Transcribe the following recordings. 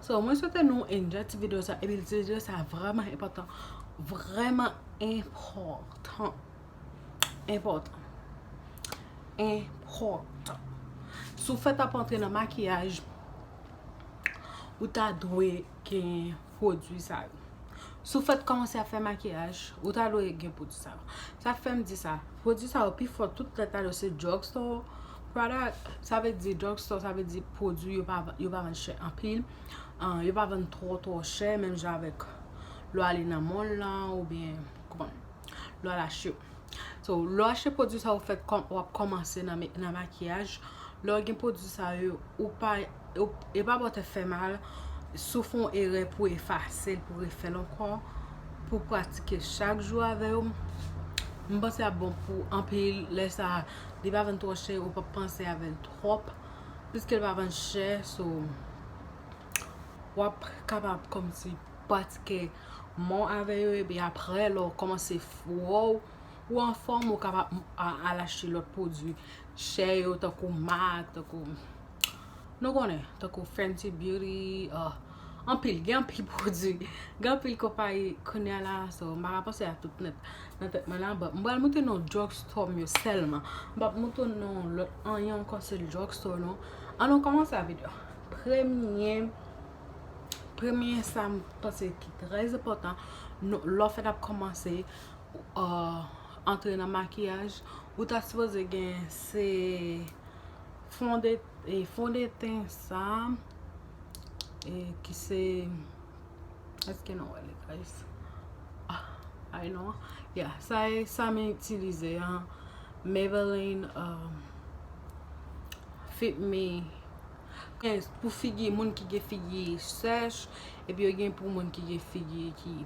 So mwen swete nou enjoy ti video sa epi ti video sa vreman enpotan vreman enpotan enpotan enpotan sou fèt ap antre nan makiyaj ou ta dwe gen pwodwi sa yo sou fèt komanse ap fè makiyaj ou ta dwe gen pwodwi sa yo sa fèm di sa pwodwi sa yo pi fò tout lè ta dwe se drugstore Product sa vle di drug store sa vle di pwodwi yo pa yo pa vann chè anpil yo pa vann twò twò chè menm jan avèk lè w ale nan mall la oubyen ou konprann lè w al achte yo so lè w achte pwodwi sa yo fè kòm wap kòmanse nan makiyaj lè w gen pwodwi sa yo ou pa e pa bò tèt fè mal si w fè yon erè pou efase l pou refè l ankò pou w pratike chak jou avè yo m panse ap bon pou anpil lè sa Li pa vann twò chè ou pap panse avèl twòp piske li pa vann chè so wap kapab kòmsi pratike men w avè yo epi aprè lè w kòmanse fò ou anfòm ou kapab al achte lòt pwodui chè yo tankou mac tankou nou konnen tankou fenty beauty. Anpil, gen anpil pwodwi, gen anpil konpayi kounya la so m pa ka panse a tout nèt nan tèt mwen la but m pral montre nou drug store m yo sèlman m pap montre nou lòt anyen ankò sèl drug store nou an nou kòmanse avèk yo premye premye sa m panse ki trè enpòtan nou lè w fèt ap kòmanse antre nan makiyaj ou ta sipoze gen se fon de fon de ten sa E ki se Eske nou wè li guys Ay non Ya sa e sa men itilize an Maybelline euh, Fit Me Pou figi moun ki gen figi sèch Epi yo gen pou moun ki gen figi ki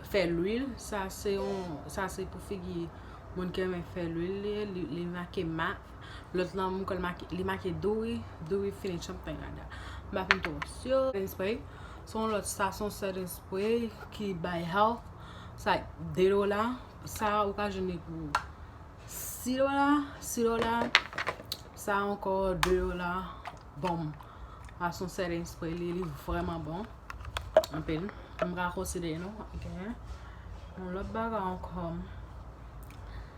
Fè lwil Sa se pou figi moun ki renmen fè lwil Li make mak Lòt lan mwen kwè li make Duri, Duri fini chèm pay rada. M pa fin twò si. Setting spray. Se yon lòt sa, se yon setting spray ki bay health. Sa 2 dola. Sa a ou ka jwenn li pou 6 dola, 6 dola. Sa a ankò 2 dola. Bonm. Sa se yon setting spray. Li li vrèman bon. Anpil. M pa konsidere nou. Gen yon lòt bagay ankò.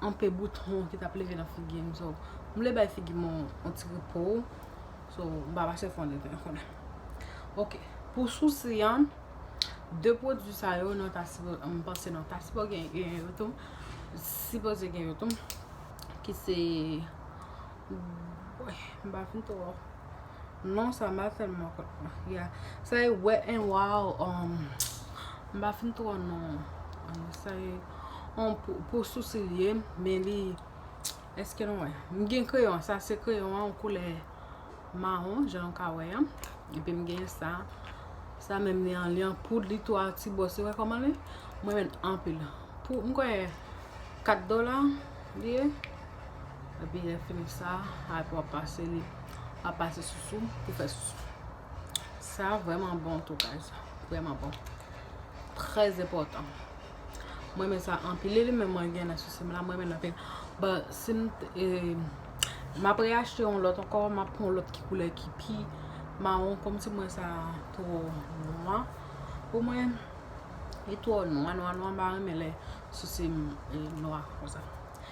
Anpe bouton ki tap leve nan figi m so m vle bay figi m yon ti repo so m pa pase fon de ten kounye a ok pou sousi an 2 pwodwi sa yo nou ta sipoze m panse nou ta sipoze gen yo tou sipoze gen yo tou ki se m pa fin twò. Non sa mba fèl mwen kot mwen. Ya sa e wet and wild um mba fin tro non. Sa e on pou sousi li ye men li eske nou wè. M gen kreyon sa se kreyon an koulè maron jan nou ka wè an. Epi m gen sa. Sa menm li an li an poud li tou a ti bò se wè koman li. Mwen men anpil. M kwè 4 dola li ye. Epi lè fè m sa, ap wap pase li, wap pase sousou pou fè sousou. Sa vreman bon tou guys, vreman bon. Trèz enpòtan. Mwen men sa anpil, li li men mwen gen nan sousou m la, mwen men nan pil. Bon, si m te, m ap re achte yon lòt ankò, m ap pran yon lòt ki koulè ki pi mawon, kòm si mwen sa twò nwa. Pou mwen, li twò nwa, nwa, nwa, m pa renmen lè sousou m nwa konsa.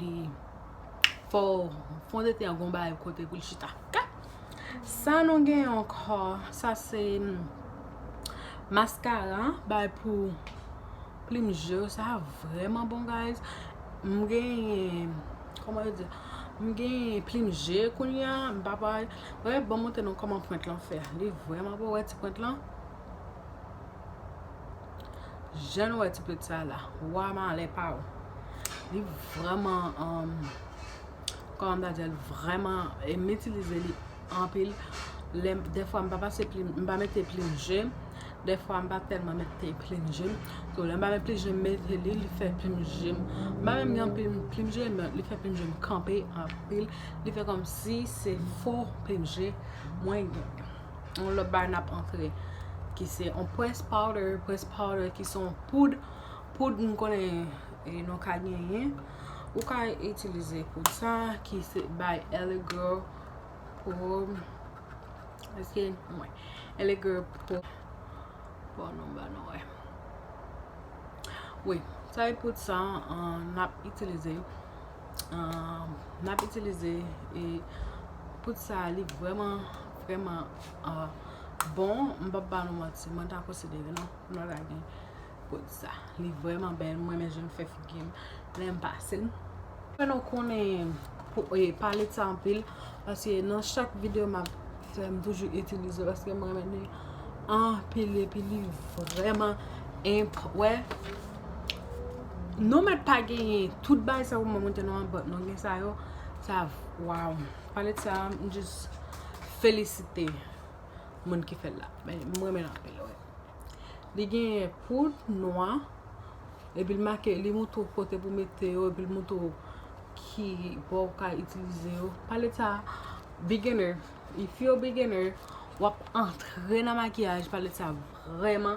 li fò fon de ten gon bagay kote pou l chita ok sa nou gen ankò sa se maskara bay pou plim je w sa vrèman bon guys m gen kòman yo di m gen plim je kounye a m pa bay wè banm montre nou kòman pwent lan fè li vrèman bon wè ti pwent lan. Jan nou wè ti pit sa la. Wa malè pa ou. Li vreman. Koman m ta djel. Vreman. E m itilize li. Anpil. Lem. Defwa m pa pase plim. M pa mete plim jem. Defwa m pa telman mete plim jem. So lem pa mete plim jem. M mete li. Li fe plim jem. M pa menm gen plim. Plim jem. Li fe plim jem. Kanpe. Anpil. Li fe kom si se fo plim jem. Mwen gen. yon lòt bagay nap antre ki se yon press powder, press powder ki son poud, poud m konnen nou ka genyen ou ka itilize poud sa ki se by LA girl poud eske mwen LA girl poud bon nou ba nou wè wi sa e poud sa nap itilize M ap itilize poud sa a. Li vrèman, vrèman bon. M pap ba nou manti. Mwen ta konsidere nou m ta gen poud sa. Li vrèman bèl. M renmen jan l fè figi m lè m pase l. M renmen konnen palet sa anpil. Paske nan chak videyo m ap fè, m toujou itilize l. Paske m renmen li anpil. Epi li vrèman enp. Wè? Nou mèt pa genyen tout bay sa ou mwen mwen te nou an bòt nou gen sa yo sa waw pale de sa m jis felisite moun ki fèl la mwen mèl anpil wè li genyen poud nwa epi l make li moutre w kote pou mete yo epi l moutre w ki bò ou ka itilize yo pale de sa beginner if you a beginner wap antre nan makiyaj pale de sa vrèman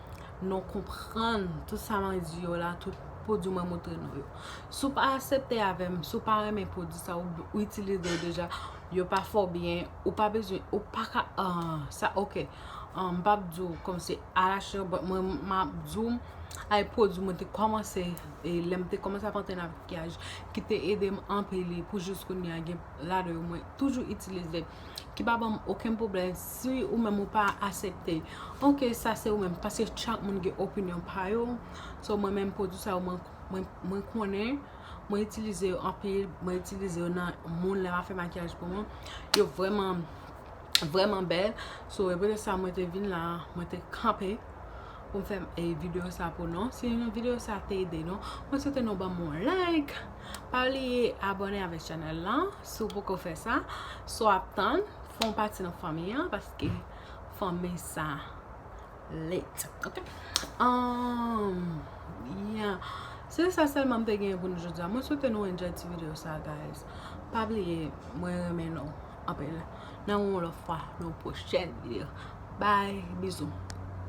non konprann tout sa mwen di yo la, tout pwodwi mwen montre nou yo. Si w pa asepte avè m, si w pa renmen pwodwi sa yo, ou itilize yo deja, yo pa fè w byen, ou pa bezwen, ou pa ka, sa ok. M pa p di w kòm se alachè, but mwen m ap di w ay pwodwi mwen te kòmanse, e lè m te kòmanse ap antre nan makiyaj, ki te ede m anpil e pou jis kounya gen ladan yo mwen toujou itilize. ki pa banm oken pwoblèm si ou menm ou pa asepte ok sa se ou menm paske chak moun gen opinyon pa yo so mwen menm pwodwi sa yo mwen konnen mwen itilize yo anpil mwen itilize yo nan moun lè m ap fè makiyaj pou moun yo vreman vreman bèl so e poutèt sa mwen te vin la mwen te kanpe pou m fè videyo sa pou nou si videyo sa te ede nou mwen swete nou banm yon like pa bliye abone avèk chanèl la Si w poko fè sa, sa w ap tann, fè w pati nan fanmi an, paske fanmi sa lit. Ok? Amm, ya. Se sa sèlman m te genyen pou nou jodi a. Mwen swete nou enjoy ti videyo sa a, guys. Pa bliye, mwen renmen nou anpil. Nan wè w yon lòt fwa nan yon pwochèn videyo. Bye! Bizou!